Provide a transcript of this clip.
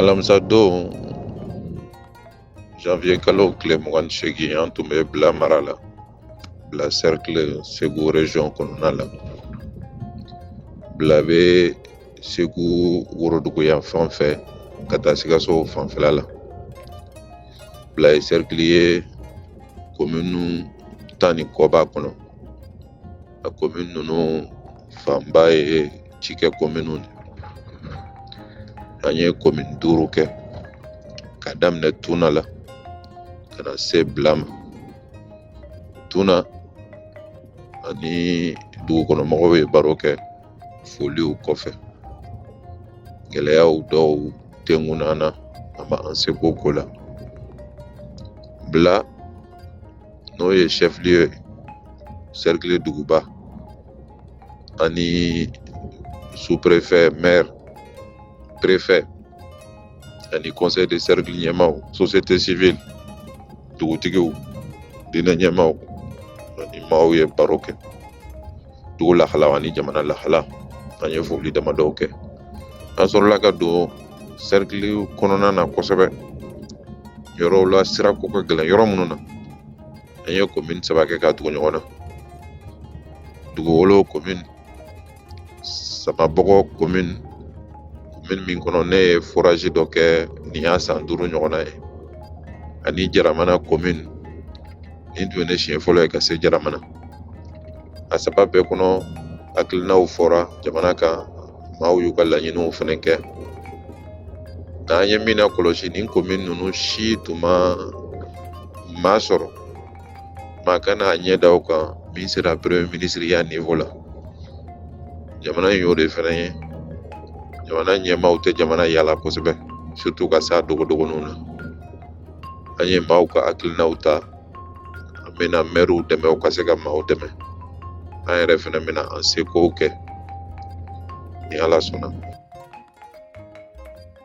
alamisa don janvier kalo tile mugan ni seegin an tun bɛ bila mara la bila cercle segu region kɔnɔna la bila bɛ segu worodugu yan fan fɛ ka taa sikaso fanfɛla la bila ye sɛrikili ye komini tan ni kɔ b'a kɔnɔ a komini ninnu fanba ye cikɛ kominiw de an ye komini duuru kɛ ka daminɛ tuna la ka na se bila ma tuna an ni dugukɔnɔmɔgɔw ye baro kɛ foliw kɔfɛ gɛlɛyaw dɔw tɛ ŋun an na a ma an seko ko la bila n'o ye chef-lieu ye sɛrikili duguba ani suprefɛ mɛri prefɛ ani conseil de cercle ɲɛmaaw société civile dugutigiw diinɛ ɲɛmaaw an ni maaw ye baro kɛ dugu lahalaw ani jamana lahala an ye foli damadɔw kɛ an sɔrɔla ka don sɛrikili kɔnɔna na kosɛbɛ yɔrɔw la sira ko ka gɛlɛn yɔrɔ minnu na an ye komin saba kɛ ka tugu ɲɔgɔn na duguwolo komin samabɔgɔ komin komin min kɔnɔ ne ye forazi dɔ kɛ nin y'a san duuru ɲɔgɔnna ye ani jaramana komin nin tun ye ne siɲɛ fɔlɔ ye ka se jaramana a saba bɛɛ kɔnɔ hakilinaw fɔra jamana kan maaw y'u ka laɲiniw fana kɛ nka an ye min nakɔlɔsi nin komin ninnu si tun ma maa sɔrɔ maa ka na a ɲɛ da u kan min sera premier ministre ya niveau la jamana in y'o de fana ye jamana ɲɛmaaw tɛ jamana yala kosɛbɛ surtout ka s'a dogodogoninw na an ye maaw ka hakilinaw ta an bɛna mɛriw dɛmɛ u ka se ka maaw dɛmɛ an yɛrɛ fɛnɛ bɛna an sekow kɛ ni ala sɔnna